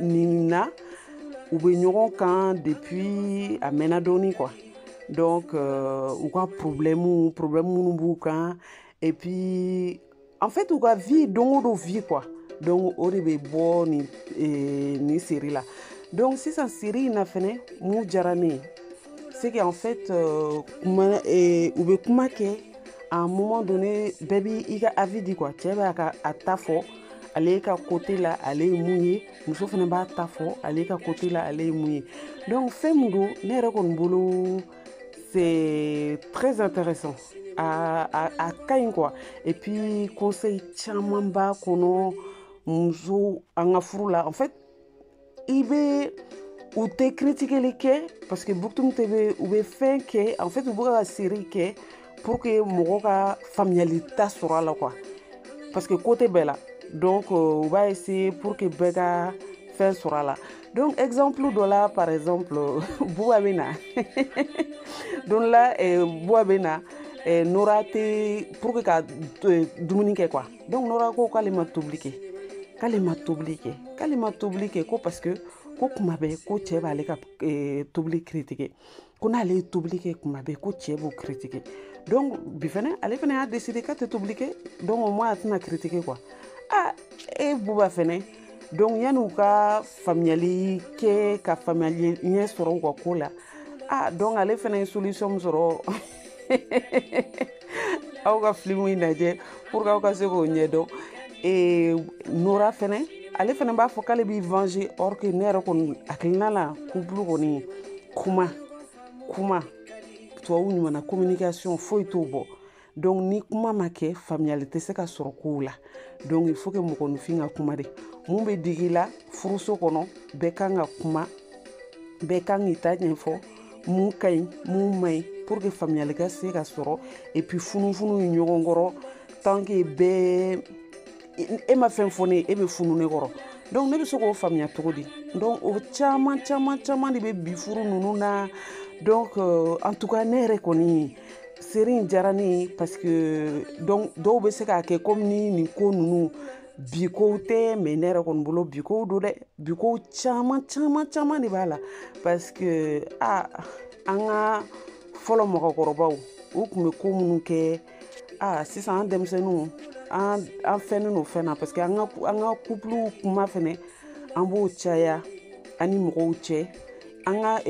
nin na u bɛ ɲɔgɔn kan depuis a mɛnna dɔɔni quoi donc euh, u ka problème problème minnu b'u kan et puis en fait u ka vie don o don vie quoi donc o de bɛ bɔ nin eh, nin série la donc sisan série in na fɛnɛ mun diyara ne ye c'est qu'en fait euh, kuma eh, u bɛ kuma kɛ à un moment donné bɛɛ b'i i ka avis di quoi cɛ b'a ka a ta fɔ ale ka côté la ale ye mun ye muso fana b'a ta fɔ ale ka côté la ale ye mun ye donc fɛn min don ne yɛrɛ kɔni bolo c'est très intéressant a, a, a ka ɲi quoi et puis conseil caman b'a kɔnɔ muso an ka furu la en fait i bɛ u tɛ kiritikeli kɛ parce que but tun tɛ bɛ u bɛ fɛn kɛ en fait u bɛ ka série kɛ pour que mɔgɔ ka faamuyali ta sɔrɔ a la quoi parce que côté bɛɛ la donc euh, u b'a essayer pour que bɛɛ ka fɛn sɔrɔ a la donc exemple dɔ la par exemple buba bɛ na don la eh, buba bɛ na eh, nora tɛ pour que ka eh, dumuni kɛ quoi donc nora ko k'ale ma tobili kɛ k'ale ma tobili kɛ k'ale ma tobili kɛ ko parce que ko kuma bɛɛ ko cɛ b'ale ka eh, tobili kiritike ko n'ale ye tobili kɛ kuma bɛɛ ko cɛ b'o kiritike donc bi fɛnɛ ale fɛnɛ y'a deside k'a tɛ tobili kɛ donc au moins a tɛna kiritike quoi a e buba fɛnɛ donc yanni u ka faamuyali kɛ ka faamuyali ɲɛ sɔrɔ u ka ko la a donc ale fɛnɛ ye solution min sɔrɔ aw ka filimu in lajɛ pour que aw ka se k'o ɲɛdɔn nora fɛnɛ ale fɛnɛ b'a fɔ k'ale b'i venger or que ne yɛrɛ kɔni hakilina la kupulu kɔni kuma kuma tubabu ɲumanna communication foyi t'o bɔ donc ni kuma ma kɛ faamuyali tɛ se ka sɔrɔ kow la donc il faut que mɔgɔninfin ka kuma de mun bɛ digi la furuso kɔnɔ bɛɛ kan ka kuma bɛɛ kan k'i ta ɲɛfɔ mun ka ɲi mun man ɲi pour que faamuyali ka se ka sɔrɔ et puis funufununi ɲɔgɔn kɔrɔ tant que bɛɛ e ma fɛn fɔ ne ye e bɛ funu ne kɔrɔ donc ne bɛ se k'o faamuya cogo di donc o caman caman caman de bɛ bi furu ninnu na donc euh, en tout cas ne yɛrɛ kɔni série in diyara ne ye parce que donc dɔw bɛ se k'a kɛ komi ni nin ko ninnu bi kow tɛ mais ne yɛrɛ kɔni bolo bi kow don dɛ bi kow caman caman caman de b'a la parce que a an ka fɔlɔ mɔgɔkɔrɔbaw u tun bɛ ko minnu kɛ a sisan an denmisɛnninw an an fɛnnen don fɛn na parce que an ka an ka kupuluw kuma fɛnɛ an b'o caya an ni mɔgɔw cɛ an ka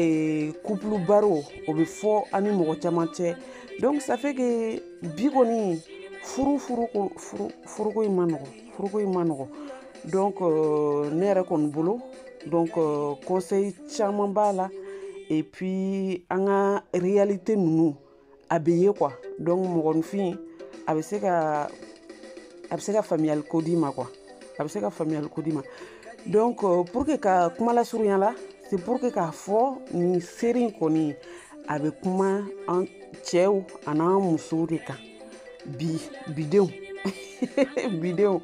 kupulu baro o bɛ fɔ an ni mɔgɔ caman cɛ donc ça fait que bi kɔni furu furuko furu furuko in man nɔgɔ furuko in man nɔgɔ donc euh, ne yɛrɛ kɔni bolo donc euh, conseil caman b'a la et puis an ka réalité ninnu a bɛ ye quoi donc mɔgɔninfin a bɛ se ka a bɛ se ka faamuyali ko d'i ma quoi a bɛ se ka faamuyali ko d'i ma donc euh, pour que ka kuma lasurunya la c'est pour que k'a fɔ nin série in kɔni a bɛ kuma an cɛw an'an musow de kan bi bidenw bidenw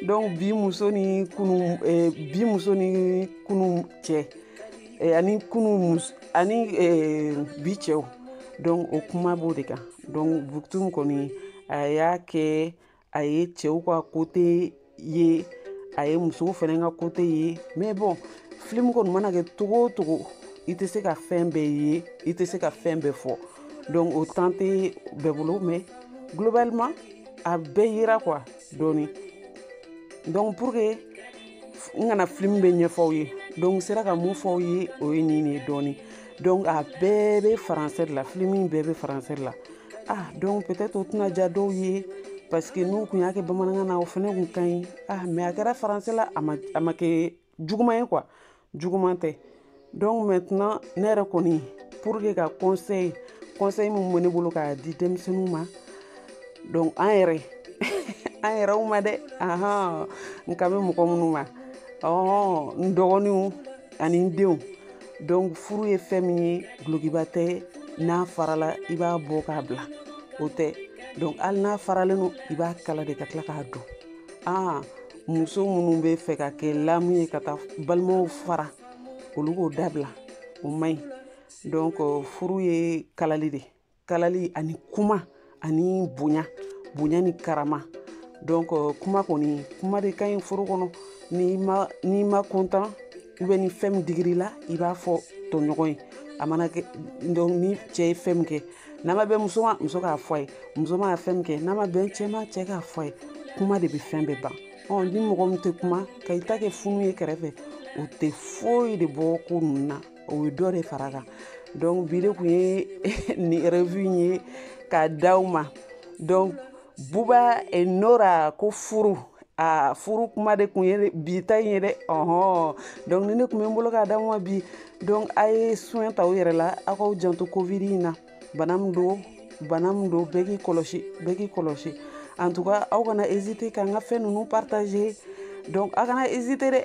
donc bi muso ni kunu eh, bi muso ni kunu cɛ eh, ani kunu mus ani eh, bi cɛw donc o kuma b'o de kan donc buktum kɔni a y'a kɛ a ye cɛw ka côté ye a ye musow fana ka côté ye mais bon filimu kɔni mana kɛ cogo o cogo i tɛ se ka fɛn bɛɛ ye i tɛ se ka fɛn bɛɛ fɔ donc o temps tɛ bɛɛ bolo mais globalement a bɛɛ yira quoi dɔɔni donc pour que n kana filimu bɛɛ ɲɛfɔ aw ye donc sera ka min fɔ aw ye o ye nin de ye dɔɔni donc a bɛɛ bɛ faransɛ de la filimu bɛɛ bɛ faransɛ de la ah donc peut-être o tɛna diya dɔw ye parce que n'u kun y'a kɛ bamanankan na o fana kun ka ɲi ah mais a kɛra faransɛ la a ma a ma kɛ juguman ye quoi juguman tɛ donc maintenant ne yɛrɛ kɔni pour que ka conseil conseil min bɛ ne bolo k'a di denmisɛnninw ma donc an yɛrɛ an yɛrɛw ma dɛ ahan n kan bɛ mɔgɔ minnu ma ɔɔ n dɔgɔninw ani n denw donc furu ye fɛn min ye dulokiba tɛ n'a farala i b'a bɔ k'a bila o tɛ donc hali n'a faralen don i b'a kala de ka tila k'a don aa muso minnu b'a fɛ k'a kɛ lamu ye ka taa balimaw fara olu k'o dabila o man ɲi donc furu ye kalali de kalali ani kuma ani bonya bonya ni karama donc euh, kuma kɔni kuma de ka ɲi furu kɔnɔ n'i ma n'i ma content i bɛ ni fɛn min digir'i la i b'a fɔ tɔɲɔgɔn ye a mana kɛ donc ni cɛ ye fɛn min kɛ n'a ma bɛn muso ma muso k'a fɔ a ye muso ma fɛn min kɛ n'a ma bɛn cɛ ma cɛ k'a fɔ a ye kuma de bɛ fɛn bɛɛ ban ɔ ni mɔgɔ min tɛ kuma ka i ta kɛ funu ye kɛrɛfɛ o tɛ foyi de bɔ ko ninnu na o ye dɔ de fara a kan donc bi de kun ye nin revue in ye k'a d'aw ma donc buba et nora ko furu a furu kuma de kun ye bi ta in ye dɛ ɔhɔn donc nin de kun bɛ n bolo k'a d'aw ma bi donc a ye soin ta aw yɛrɛ la aw k'aw janto covid in na bana min don bana min don bɛɛ k'i kɔlɔsi bɛɛ k'i kɔlɔsi en tout cas aw kana hésiter k'an ka fɛn ninnu partager donc aw kana hésiter dɛ